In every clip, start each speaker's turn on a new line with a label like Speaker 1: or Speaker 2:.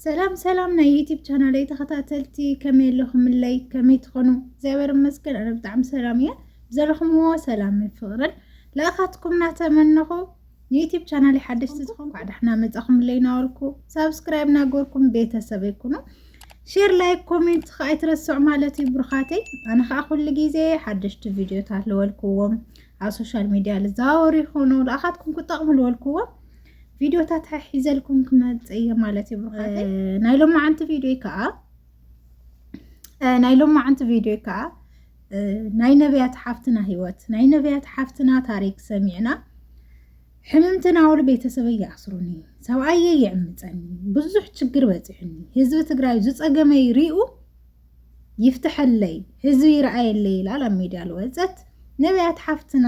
Speaker 1: ሰላም ሰላም ናይ ዩቲብ ቻናለይ ተኸታተልቲ ከመይ ኣለኹምለይ ከመይ ትኾኑ እግዚኣብሔር ይመስገን ኣነ ብጣዕሚ ሰላም እየ ዘለኹምዎ ሰላምን ፍቕርን ለእኻትኩም እናተመነኹ ንዩቲብ ቻናል ሓደሽቲ ዝኾን ኳዕ ዳሕና መፃኹምለይ ናበልኩ ሳብስክራይብ ናገርኩም ቤተሰብ ይኩኑ ሼር ላይክ ኮሜንት ከዓ ኣይትረስዑ ማለት እዩ ብሩኻተይ ኣነ ከዓ ኩሉ ግዜ ሓደሽቲ ቪድዮታት ልበልክዎም ኣብ ሶሻል ሚድያ ልዘዋወሩ ይኾኑ ለእኻትኩም ክጠቕሙ ልበልክዎም ቪድዮታት ሓሒዘልኩም ክመፅእ እየ ማለት እዩ ብሩኻተይ ናይ ሎማዓንቲ ቪድዮ ከዓ ናይ ሎማዓንቲ ቪድዮ ከዓ ናይ ነቢያት ሓፍትና ህይወት ናይ ነቢያት ሓፍትና ታሪክ ሰሚዕና ሕምምትን ኣውል ቤተሰበ ይኣስሩኒ ሰብኣየ ይዕምፀኒ ብዙሕ ችግር በፂሑኒ ህዝቢ ትግራይ ዝፀገመይ ሪኡ ይፍትሐለይ ህዝቢ ይረኣየለይ ይላል ኣብ ሚድያ ልወፀት ነቢያት ሓፍትና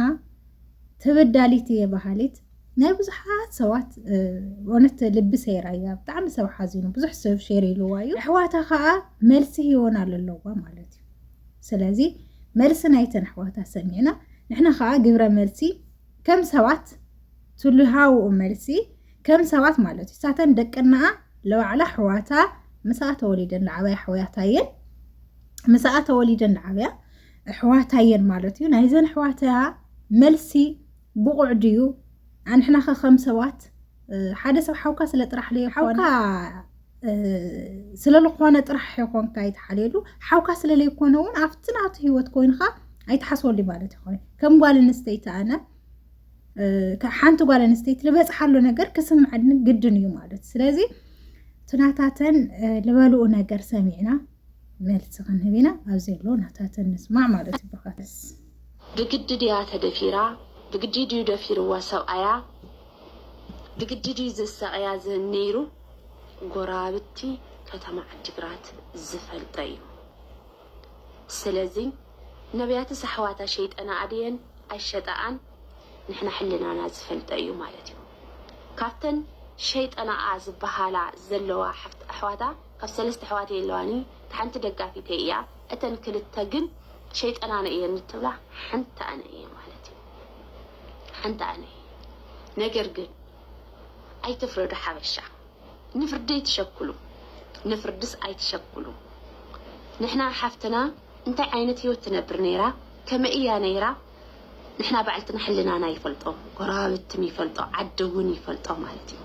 Speaker 1: ተበዳሊት እየ በሃሊት ናይ ብዙሓት ሰባት እውነት ልቢ ሰይራ እያ ብጣዕሚ ሰብ ሓዚኑ ብዙሕ ሰብ ሼር ኢልዋ እዩ ኣሕዋታ ከዓ መልሲ ሂወን ኣለለዋ ማለት እዩ ስለዚ መልሲ ናይተን ኣሕዋታ ሰሚዕና ንሕና ከዓ ግብረ መልሲ ከም ሰባት ትልሃውኡ መልሲ ከም ሰባት ማለት እዩ ሳተን ደቅናኣ ለባዕላ ኣሕዋታ ምስኣ ተወሊደን ዝዓበያ ኣሕዋታ እየን ምስኣ ተወሊደን ዝዓበያ ኣሕዋታ እየን ማለት እዩ ናይዘን ኣሕዋታ መልሲ ብቑዕ ድዩ? ኣንሕናኸ ከም ሰባት ሓደ ሰብ ሓውካ ስለ ጥራሕ ለዮ ሓውካ ስለልኾነ ጥራሕ ይኾንካ ኣይትሓልየሉ ሓውካ ስለለይኮነ እውን ኣብቲ ናቱ ሂወት ኮይንካ ኣይትሓስበሉ ማለት ይኾነ ከም ጓል ኣንስተይቲ ኣነ ሓንቲ ጓል ኣንስተይቲ ዝበፅሓሉ ነገር ክስምዐኒ ግድን እዩ ማለት ስለዚ ትናታተን ልበልኡ ነገር ሰሚዕና መልሲ ክንህብ ኢና ኣብ ዘሎ ናታተን ንስማዕ ማለት እዩ ብርካትስ ብግዲ
Speaker 2: ድያ ተደፊራ ብግዲ ድዩ ደፊርዋ ሰብኣያ ብግዲ ድዩ ዘሳቕያ ነይሩ ጎረባብቲ ከተማ ዓዲግራት ዝፈልጦ እዩ ስለዚ ነብያትስ ኣሕዋታ ሸይጠናኣ ድየን ኣይሸጠኣን ንሕና ሕልናና ዝፈልጦ እዩ ማለት እዩ ካብተን ሸይጠናኣ ዝበሃላ ዘለዋ ኣሕዋታ ካብ ሰለስተ ኣሕዋት እየ ለዋኒ ታሓንቲ ደጋፊተይ እያ እተን ክልተ ግን ሸይጠናነ እየን ንትብላ ሓንቲ ኣነ እየ ማለት እዩ ሓንቲ ኣነ እየ ነገር ግን ኣይትፍረዱ ሓበሻ ንፍርዲ ኣይትሸኩሉ ንፍርድስ ኣይትሸኩሉ ንሕና ሓፍትና እንታይ ዓይነት ሂወት ትነብር ነይራ ከመይ እያ ነይራ ንሕና ባዕልትና ሕልናና ይፈልጦ ጎረባብትም ይፈልጦ ዓዲ እውን ይፈልጦ ማለት እዩ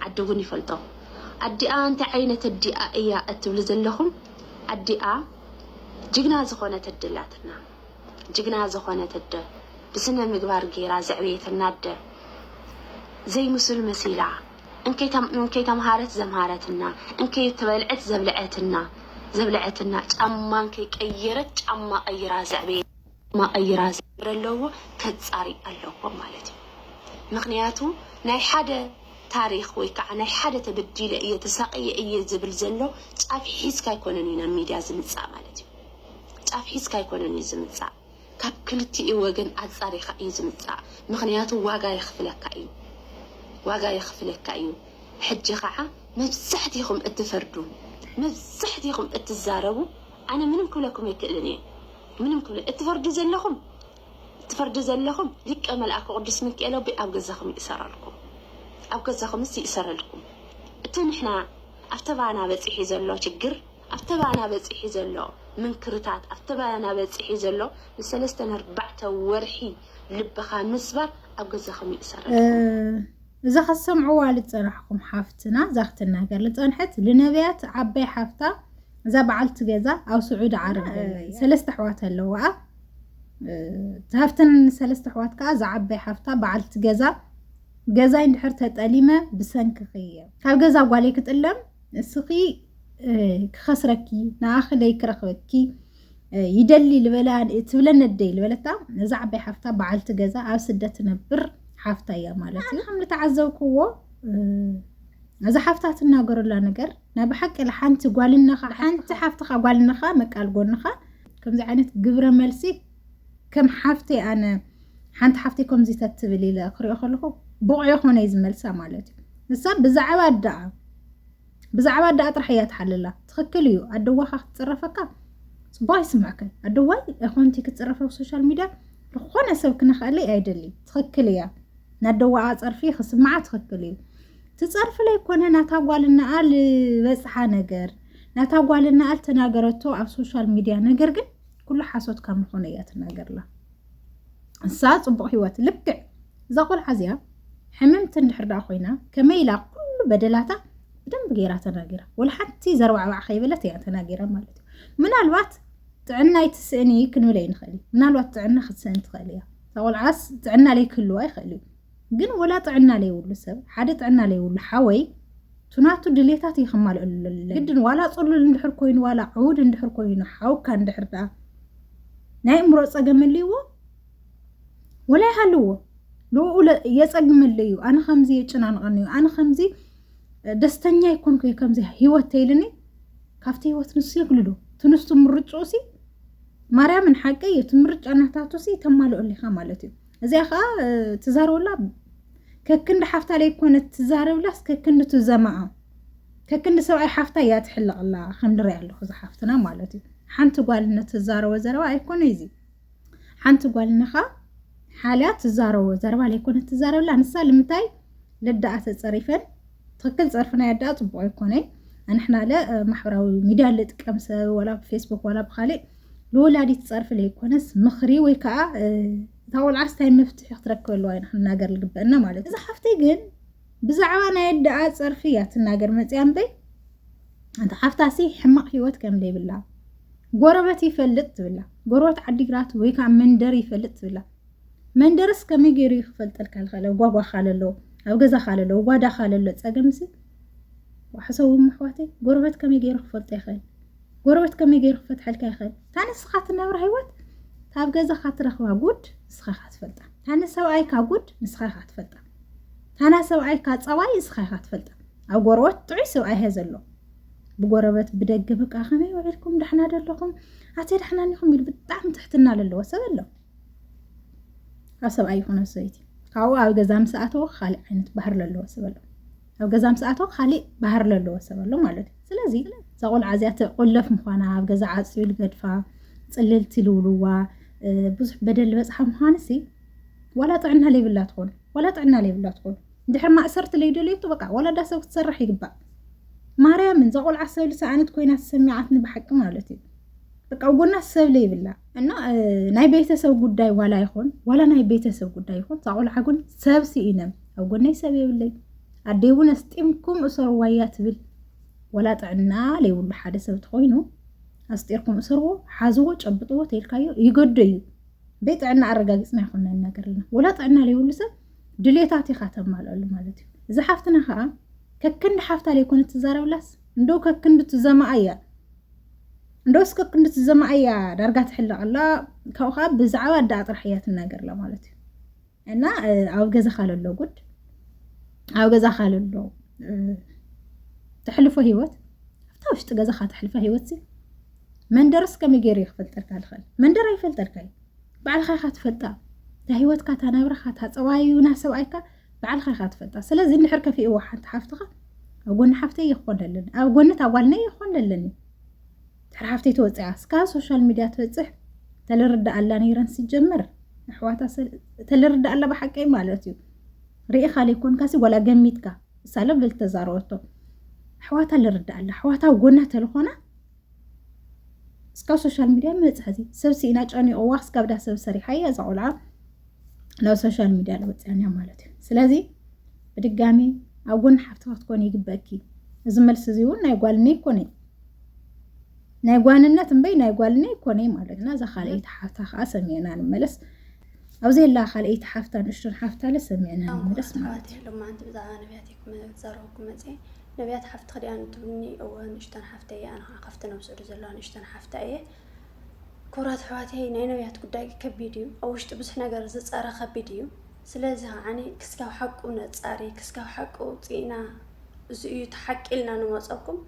Speaker 2: ዓዲ እውን ይፈልጦ ኣዲኣ እንታይ ዓይነት ኣዲኣ እያ እትብሉ ዘለኹም ኣዲኣ ጅግና ዝኾነት ኣደ ኣላትና ጅግና ዝኾነት ኣደ ብስነ ምግባር ገይራ ዘዕበየትና ኣደ ዘይምሱል መሲላ እንከይ ተምሃረት ዘምሃረትና፣ እንከይ ተበልዐት ዘብልዐትና ዘብልዐትና፣ ጫማ እንከይ ቀየረት ጫማ ቀይራ ዘዕበየ ጫማ ቀይራ ዘለዎ ከጻሪ ኣለዎ ማለት እዩ። ምክንያቱ ናይ ሓደ ታሪክ ወይ ከዓ ናይ ሓደ ተበዲለ እየ ተሳቅየ እየ ዝብል ዘሎ ጫፍ ሒዝካ ኣይኮነን እዩ ናብ ሚድያ ዝምጻእ ማለት እዩ። ጫፍ ሒዝካ ኣይኮነን እዩ ዝምጻእ። ካብ ክልቲኡ ወገን ኣጻሪካ እዩ ዝምጻእ ምክንያቱ ዋጋ የክፍለካ እዩ ዋጋ የክፍለካ እዩ ሕጂ ካዓ መብዛሕቲኩም እትፈርዱ መብዛሕቲኩም እትዛረቡ ኣነ ምንም ክብለኩም ኣይክእልን እየ ምንም ክብለ እትፈርዱ ዘለኩም እትፈርዱ ዘለኩም ሊቀ መልኣኩ ቅዱስ ምክኤል ኣቦይ ኣብ ገዛኩም ይእሰረልኩም ኣብ ገዛኩምስ ይእሰረልኩም እቲ ንሕና ኣብ ተባና በጺሒ ዘሎ ችግር ኣብቲ ባና በጺሒ ዘሎ ምንክርታት፣ ኣብቲ ባና በጺሒ ዘሎ ንሰለስተን ኣርባዕተ ወርሒ ልብኻ ምስባር ኣብ ገዛኹም ይእሰረልኩም። እዛ ክትሰምዕዋ
Speaker 1: ልጸናሕኩም ሓፍትና እዛ ክትናገር ልጸንሐት ልነብያት ዓባይ ሓፍታ እዛ በዓልቲ ገዛ ኣብ ስዑዲ ዓረብ ሰለስተ ኣሕዋት ኣለዋኣ ካብተን ሰለስተ ኣሕዋት ከዓ እዛ ዓባይ ሓፍታ በዓልቲ ገዛ ገዛይ እንድሕር ተጠሊመ ብሰንክኺ እየ ካብ ገዛ ጓለይ ክጥለም እስኺ ክኸስረኪ ንኣኺ ለይክረኽበኪ ይደሊ ልበላ ትብለኒ ደይ ልበለታ እዛ ዓባይ ሓፍታ በዓልቲ ገዛ ኣብ ስደት ትነብር ሓፍታ እያ ማለት እዩ ከም ዝተዓዘብክዎ እዛ ሓፍታ ትናገረላ ነገር ናይ ብሓቂ ሓንቲ ጓልነኻ ሓንቲ ሓፍትኻ ጓልነኻ መቃል ጎንኻ ከምዚ ዓይነት ግብረ መልሲ ከም ሓፍቲ ኣነ ሓንቲ ሓፍቲ ከምዚ ተትብል ኢለ ክሪኦ ከለኹ ብቑዕ የኾነ እዩ ዝመልሳ ማለት እዩ ንሳ ብዛዕባ ደኣ ብዛዕባ ኣደኣ ጥራሕ እያ ትሓልላ ትኽክል እዩ ኣደዋ ካ ክትፅረፈካ ፅቡቅ ኣይስምዕክን ኣደዋይ ኮንቲ ክትፅረፈ ብሶሻል ሚድያ ዝኾነ ሰብ ክነኽእለይ ኣይደሊ ትኽክል እያ ናደዋኣ ፀርፊ ክስምዓ ትኽክል እዩ ትፀርፊ ለይኮነ ናታ ጓልናኣ ዝበፅሓ ነገር ናታ ጓልናኣ ልተናገረቶ ኣብ ሶሻል ሚድያ ነገር ግን ኩሉ ሓሶት ካብ ምኾነ እያ ትናገርላ እሳ ፅቡቕ ህይወት ልክዕ እዛ ቆልዓ እዚኣ ሕምምቲ እንድሕር ደኣ ኮይና ከመይ ኢላ ኩሉ በደላታ ብደንብ ገይራ ተናጊራ ወላ ሓንቲ ዘርባዕባዕ ከይበለት እያ ተናጊራ ማለት እዩ ምናልባት ጥዕና ይትስእኒ ክንብለ ይንኽእል እዩ ምናልባት ጥዕና ክትስእን ትኽእል እያ እዛ ቆልዓስ ጥዕና ለይክህልዋ ይኽእል እዩ ግን ወላ ጥዕና ለይብሉ ሰብ ሓደ ጥዕና ለይብሉ ሓወይ ቱናቱ ድሌታት እዩ ከማልእሉ ግድን ዋላ ፅሉል እንድሕር ኮይኑ ዋላ ዕውድ እንድሕር ኮይኑ ሓውካ እንድሕር ደኣ ናይ እምሮ ፀገም ኣለዎ ወላ ይሃልዎ ንኡ የፀግመለ እዩ ኣነ ከምዚ የጨናንቐኒ እዩ ኣነ ከምዚ ደስተኛ ይኮንኩ እዩ ከምዚ ሂወት ተይልኒ ካብቲ ሂወት ንሱ የግልሉ ትንሱ ምርጭኡ ሲ ማርያምን ሓቂ እዩ እቲ ምርጫ ናታቱ ሲ ተማልኦሊካ ማለት እዩ እዚኣ ከዓ ትዛረበላ ከክንዲ ሓፍታ ለይኮነት ትዛረብላስ ከክንዲ ትዘማኣ ከክንዲ ሰብኣይ ሓፍታ እያ ትሕለቕላ ከም ድሪያ ኣለኹ እዚ ሓፍትና ማለት እዩ ሓንቲ ጓልነት ትዛረቦ ዘረባ ኣይኮነ እዚ ሓንቲ ጓልነኻ ሓልያ ትዛረቦ ዘረባ ለይኮነት ትዛረብላ ንሳ ልምታይ ልዳኣ ተፀሪፈን ትክክል ፀርፊ ናይ ኣዳኣ ፅቡቅ ኣይኮነይ ኣንሕና ለ ማሕበራዊ ሚድያ ልጥቀም ሰብ ወላ ብፌስቡክ ወላ ብካሊእ ንወላዲት ፀርፊ ዘይኮነስ ምኽሪ ወይ ከዓ እታ ቆልዓስ እንታይ መፍትሒ ክትረክበሉ ኣይና ክንናገር ዝግበአና ማለት እዩ። እዛ ሓፍተይ ግን ብዛዕባ ናይ ኣደኣ ፀርፊ እያ ትናገር መፅያ እምበይ እንተ ሓፍታሲ ሕማቕ ሂወት ከም ዘይብላ ጎረበት ይፈልጥ ትብላ ጎረበት ዓዲግራት ወይ ከዓ መንደር ይፈልጥ ትብላ መንደርስ ከመይ ገይሩ እዩ ክፈልጠልካ ዝኽእለ ጓጓ ካለሎ ኣብ ገዛ ካለሎ ጓዳ ካለሎ ፀገምሲ ዋሕሰዎም ኣሕዋተይ ጎረበት ከመይ ገይሩ ክፈልጦ ይኽእል ጎረበት ከመይ ገይሩ ክፈትሐልካ ይኽእል እታ ንስኻ ትነብራ ህይወት ካብ ገዛኻ ትረኽባ ጉድ ንስኻ ኢኻ ትፈልጣ እታ ንሰብኣይካ ጉድ ንስኻ ኢኻ ትፈልጣ እታ ናይ ሰብኣይካ ፀባይ ንስኻ ኢኻ ትፈልጣ ኣብ ጎረበት ጥዑይ ሰብኣይ እየ ዘሎ ብጎረበት ብደገ በቃ ከመይ ውዒልኩም ዳሕና ደለኹም ኣተ ዳሕና ኒኹም ኢሉ ብጣዕሚ ትሕትና ዘለዎ ሰብ ኣሎ ኣብ ሰብኣይ ይኹነ ሰበይቲ ካብኡ ኣብ ገዛ ምስ ኣተወ ካልእ ዓይነት ባህር ዘለዎ ሰብ ኣሎ ኣብ ገዛ ምስ ኣተወ ካሊእ ባህር ለለዎ ሰብ ኣሎ ማለት እዩ ስለዚ እዛ ቆልዓ እዚኣ ትቆለፍ ምዃና ኣብ ገዛ ዓፅዩ ልገድፋ ፅልልቲ ልውልዋ ብዙሕ በደል ዝበፅሓ ምዃንሲ ዋላ ጥዕና ለይብላ ትኾን ዋላ ጥዕና ለይብላ ትኾን እንድሕር ማእሰርቲ ለይደልየቱ በቃ ዋላ ዳ ሰብ ክትሰርሕ ይግባእ ማርያምን ዘቆልዓ ሰብ ልሰኣነት ኮይና ተሰሚዓትኒ ብሓቂ ማለት እዩ በቃ ጎና ሰብ ለይብላ እና ናይ ቤተሰብ ጉዳይ ዋላ ይኹን ዋላ ናይ ቤተሰብ ጉዳይ ይኹን ዛቆልዓ ግን ሰብ ስኢነም ኣብ ጎነይ ሰብ የብለይ ኣደይ እውን ኣስጢምኩም እሰርዋ እያ ትብል ወላ ጥዕና ዘይብሉ ሓደ ሰብ ትኮይኑ ኣስጢርኩም እሰርዎ ሓዝዎ ጨብጥዎ ተልካዮ ይገዶ እዩ በይጥዕና ኣረጋጊፅና ይኮነ ነገር ኣለና ወላ ጥዕና ዘይብሉ ሰብ ድሌታት ኢካ ተማልኣሉ ማለት እዩ እዚ ሓፍትና ከዓ ከክንዲ ሓፍታ ዘይኮነ ትዛረብላስ እንዶ ከክንዲ ትዘማኣ እያ እንዶ እስከ ክንዲ ትዘማኣ እያ ዳርጋ ትሕለቀላ ካብኡ ከዓ ብዛዕባ ኣዳኣ ጥራሕ እያ ትናገርላ ማለት እዩ እና ኣብ ገዛኻ ለሎ ጉድ ኣብ ገዛኻ ለሎ ተሕልፎ ሂወት ኣብታ ውሽጢ ገዛኻ ተሕልፎ ሂወት መንደርስ ከመይ ገይሩ እዩ ክፈልጠልካ ዝኽእል መንደር ኣይፈልጠልካ እዩ ባዕልኻ ኢኻ ትፈልጣ እታ ሂወትካ እታ ናብራኻ እታ ፀባዩና ሰብኣይካ ባዕልኻ ኢኻ ትፈልጣ ስለዚ እንድሕር ከፊእዎ ሓንቲ ሓፍትኻ ኣብ ጎኒ ሓፍተይ ይኾን ኣለኒ ኣብ ጎኒ እታ ጓልነይ ይኾን ኣለኒ ድሕሪ ሓፍተይ ተወፅያ እስካ ሶሻል ሚድያ ትበፅሕ ተልርዳእ ኣላ ነይረን ሲጀመር ኣሕዋታ ተልርዳእ ኣላ ብሓቀይ ማለት እዩ ርኢኻ ዘይኮንካሲ ዋላ ገሚትካ እሳለ ብልተዛረበቶ ኣሕዋታ ልርዳእ ኣላ ኣሕዋታ ጎና ተልኾና እስካብ ሶሻል ሚድያ መፅሐዚ ሰብ ስኢና ጨኒቕዋ እስካብ ዳ ሰብ ሰሪሓ እያ እዛ ቆልዓ ናብ ሶሻል ሚድያ ዝወፅያንያ ማለት እዩ ስለዚ ብድጋሚ ኣብ ጎኒ ሓፍትኻ ክትኮን ይግበእኪ እዚ መልሲ እዚ እውን ናይ ጓልኒ ይኮነ ናይ ጓንነት እምበይ ናይ ጓልና ይኮነይ ማለትና እዛ ካልኣይቲ ሓፍታ ከዓ ሰሚዕና ንመለስ ኣብ ዘላ ካልኣይቲ ሓፍታ ንእሽቶን ሓፍታለ ሰሚዕና ንመለስ ማለት እዩ ሎማዓንቲ
Speaker 3: ብዛዕባ ነቢያት ይኩም ዛረብኩ መፀ ነቢያት ሓፍቲ ክዲኣ ንትብልኒ እወ ንእሽቶን ሓፍተ እየ ኣነ ከዓ ካብቲ ነብሰዱ ዘለዋ ንእሽቶን ሓፍታ እየ ክብራት ኣሕዋተይ ናይ ነቢያት ጉዳይ ከቢድ እዩ ኣብ ውሽጢ ብዙሕ ነገር ዝፀረ ከቢድ እዩ ስለዚ ከዓ ክስካብ ሓቁ ነፃሪ ክስካብ ሓቁ ውፅኢና እዚ እዩ እቲ ሓቂ ኢልና ንመፀኩም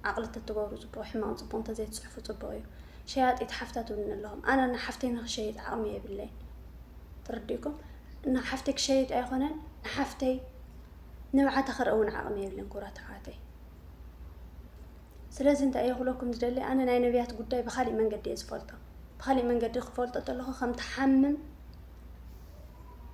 Speaker 3: ዓቅሊ ተትገብሩ ፅቡቅ ሕማቅ ፅቡቅ እንተዘይትፅሕፉ ፅቡቅ እዩ ሸያጢት ሓፍታት እውን ኣለኹም ኣነ እና ሓፍተይ ንክሸይጥ ዓቅሚ የብለይ ትርድእኩም እና ሓፍተይ ክሸይጥ ኣይኮነን ንሓፍተይ ንብዓተ ክርኢ እውን ዓቅሚ የብለን ኩብራት ኣሕዋተይ ስለዚ እንታይ እየ ክብለኩም ዝደሊ ኣነ ናይ ነቢያት ጉዳይ ብካሊእ መንገዲ እየ ዝፈልጦ ብካሊእ መንገዲ ክፈልጦ ተለኩ ከም ትሓምም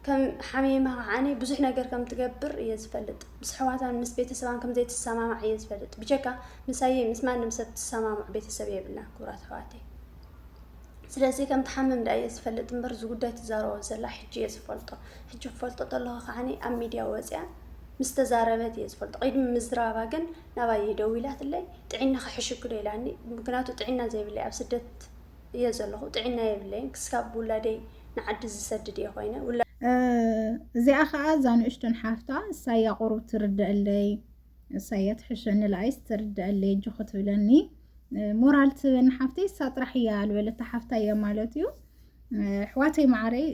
Speaker 3: ከም ሓሚማ ከዓኒ ብዙሕ ነገር ከም ትገብር እየ ዝፈልጥ ምስ ኣሕዋታን ምስ ቤተሰባን ከም ዘይትሰማማዕ እየ ዝፈልጥ ብጀካ ምሳየ ምስ ማንም ሰብ ትሰማምዑ ቤተሰብ የብልና ክቡራት ኣሕዋተይ ስለዚ ከም ትሓምም ዳ እየ ዝፈልጥ እምበር እዚ ጉዳይ ትዛረቦ ዘላ ሕጂ እየ ዝፈልጦ ሕጂ ክፈልጦ ከለኹ ከዓኒ ኣብ ሚድያ ወፅያ ምስ ተዛረበት እየ ዝፈልጦ ቅድሚ ምዝራባ ግን ናባየ ደዊላትለይ ጥዒናኺ ሕሽክዶ ኢላኒ ምክንያቱ ጥዒና ዘይብለይ ኣብ ስደት እየ ዘለኹ ጥዒና የብለይን ክስካብ ውላደይ ንዓዲ ዝሰድድ እየ ኮይነ እዚኣ
Speaker 1: ከዓ እዛ ንእሽቶን ሓፍታ እሳያ ቁሩብ ትርደአለይ እሳያ ትሕሸኒ ለኣይስ ትርደአለይ እጆ ክትብለኒ ሞራል ትበኒ ሓፍተይ እሳ ጥራሕ እያ ዝበለታ ሓፍታ እያ ማለት እዩ ኣሕዋተይ ማዕረይ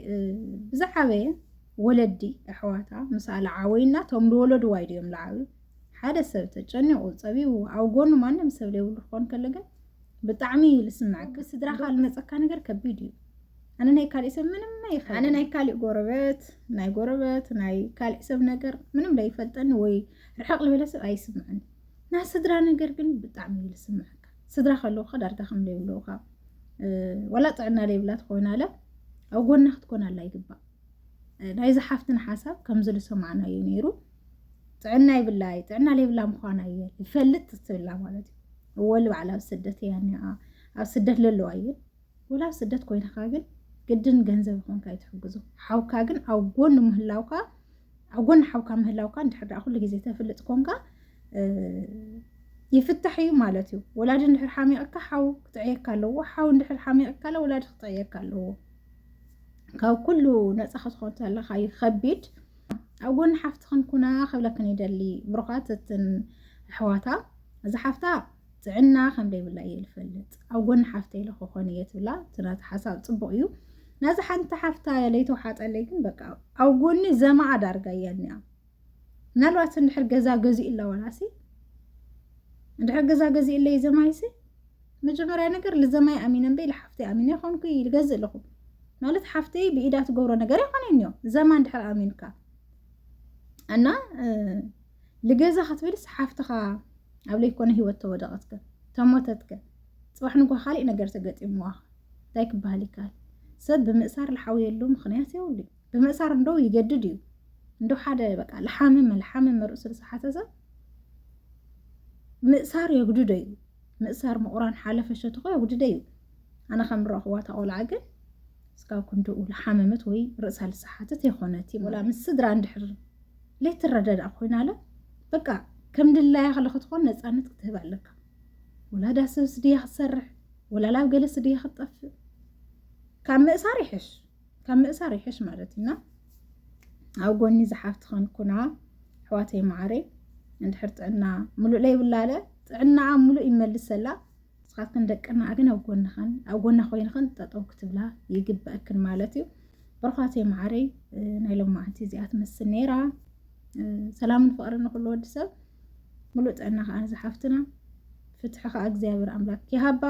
Speaker 1: ብዛዕበየ ወለዲ ኣሕዋታ ምሳለ ዓወይና ቶም ዝወለድዋ ኢዮም ዝዓብዩ ሓደ ሰብ ተጨኒቑ ጸቢቡ ኣብ ጎኑ ማንም ሰብ ዘይብሉ ክኾን ከሎ ግን ብጣዕሚ እዩ ዝስምዓካ። ብስድራኻ ዝመጸካ ነገር ከቢድ እዩ። ኣነ ናይ ካሊእ ሰብ ምንም ኣይኸ ኣነ ናይ ካሊእ ጎረበት ናይ ጎረበት ናይ ካሊእ ሰብ ነገር ምንም ለይፈልጠኒ ወይ ርሕቕ ዝበለ ሰብ ኣይስምዐኒ። ናይ ስድራ ነገር ግን ብጣዕሚ እዩ ዝስምዓካ። ስድራ ከለውካ ዳርጋ ከም ዘይብለውካ ወላ ጥዕና ዘይብላ ትኾይና ኣለ ኣብ ጎና ክትኮን ኣላ ይግባእ። ናይዚ ሓፍትን ሓሳብ ከምዚ ዝሰማዕናዮ ነይሩ። ጥዕና ይብላ እዩ ጥዕና ዘይብላ ምኳና እየ ይፈልጥ ትብላ ማለት እዩ ወል በዓል ኣብ ስደት እያ እኒኣ ኣብ ስደት ለለዋ እየን ወላ ኣብ ስደት ኮይንካ ግን ግድን ገንዘብ ይኮንካ ይትሕግዙ ሓውካ ግን ኣብ ጎኒ ምህላውካ ኣብ ጎኒ ሓውካ ምህላውካ እንድሕር ደኣ ኩሉ ግዜ ተፍልጥ ኮንካ ይፍታሕ እዩ ማለት እዩ ወላዲ እንድሕር ሓሚቕካ ሓው ክጥዕየካ ኣለዎ ሓው እንድሕር ሓሚቕካ ለ ወላዲ ክጥዕየካ ኣለዎ ካብ ኩሉ ነፃ ክትኾን ተለካ እዩ ከቢድ ኣብ ጎኒ ሓፍትኽን ኩና ክብለክን ይደሊ ብሩኻት እትን ኣሕዋታ እዚ ሓፍታ ጥዕና ከም ደይብላ እየ ዝፈልጥ ኣብ ጎኒ ሓፍተይ ኢለ ክኾን እየ ትብላ እቲ ናቲ ሓሳብ ፅቡቕ እዩ ነዚ ሓንቲ ሓፍታ ለይተውሓጠለይ ግን በቃ ኣብ ጎኒ ዘማኣ ዳርጋ እያ እኒኣ ምናልባት እንድሕር ገዛ ገዚኡላ ዋላሲ እንድሕር ገዛ ገዚኡለይ ዘማይሲ መጀመርያ ነገር ልዘማይ ኣሚነ እምበይ ልሓፍተይ ኣሚነ ይኮንኩ ልገዝእ ኣለኹ ማለት ሓፍተይ ብኢዳ ትገብሮ ነገር ይኮነን እዮ ዘማ እንድሕር ኣሚንካ እና ልገዛ ክትብልስ ሓፍትኻ ኣብ ለይኮነ ሂወት ተወደቐትከ ተሞተትከ ፅባሕ ንጓ ካሊእ ነገር ተገጢምዋ እንታይ ክበሃል ይከሃል ሰብ ብምእሳር ልሓውየሉ ምክንያት የብሉ ብምእሳር እንዶ ይገድድ እዩ እንዶ ሓደ በቃ ልሓምም ልሓምም ርእሱ ዝሓተ ሰብ ምእሳር የግድዶ እዩ ምእሳር ምቑራን ሓለፈ ሸቶኻ የውድደ እዩ ኣነ ከም ዝረኽዋ እታ ቆልዓ ግን ስጋብ ክንድኡ ዝሓመመት ወይ ርእሳ ልሰሓተት የኾነት እዩ ወላ ምስ ስድራ እንድሕር ለይትረዳዳእ ኮይና ኣለ በቃ ከም ድላያ ከለ ክትኾን ነፃነት ክትህብ ኣለካ ወላ ዳሰብስ ድያ ክትሰርሕ ወላ ላብ ገለ ስድያ ክትጠፍእ ካብ ምእሳር ይሕሽ ካብ ምእሳር ይሕሽ ማለት እዩና ኣብ ጎኒ ዝሓፍት ከንኩና ኣሕዋተይ መዓረ እንድሕር ጥዕና ሙሉእ ለይብላለ ጥዕናኣ ሙሉእ ይመልሰላ ንስኻትክን ደቅና ግን ኣብ ጎንኽን ኣብ ጎና ኮይንኽን ጠጠው ክትብላ ይግበአክን ማለት እዩ ብርኳተይ መዓረይ ናይ ሎማዓንቲ እዚኣ ትመስል ነይራ ሰላምን ፍቅርን ንኩሉ ወዲ ሰብ ሙሉእ ጥዕና ከዓ ንዝሓፍትና ፍትሒ ከዓ እግዚኣብሔር ኣምላክ ይሃባ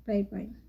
Speaker 1: ባይ ባይ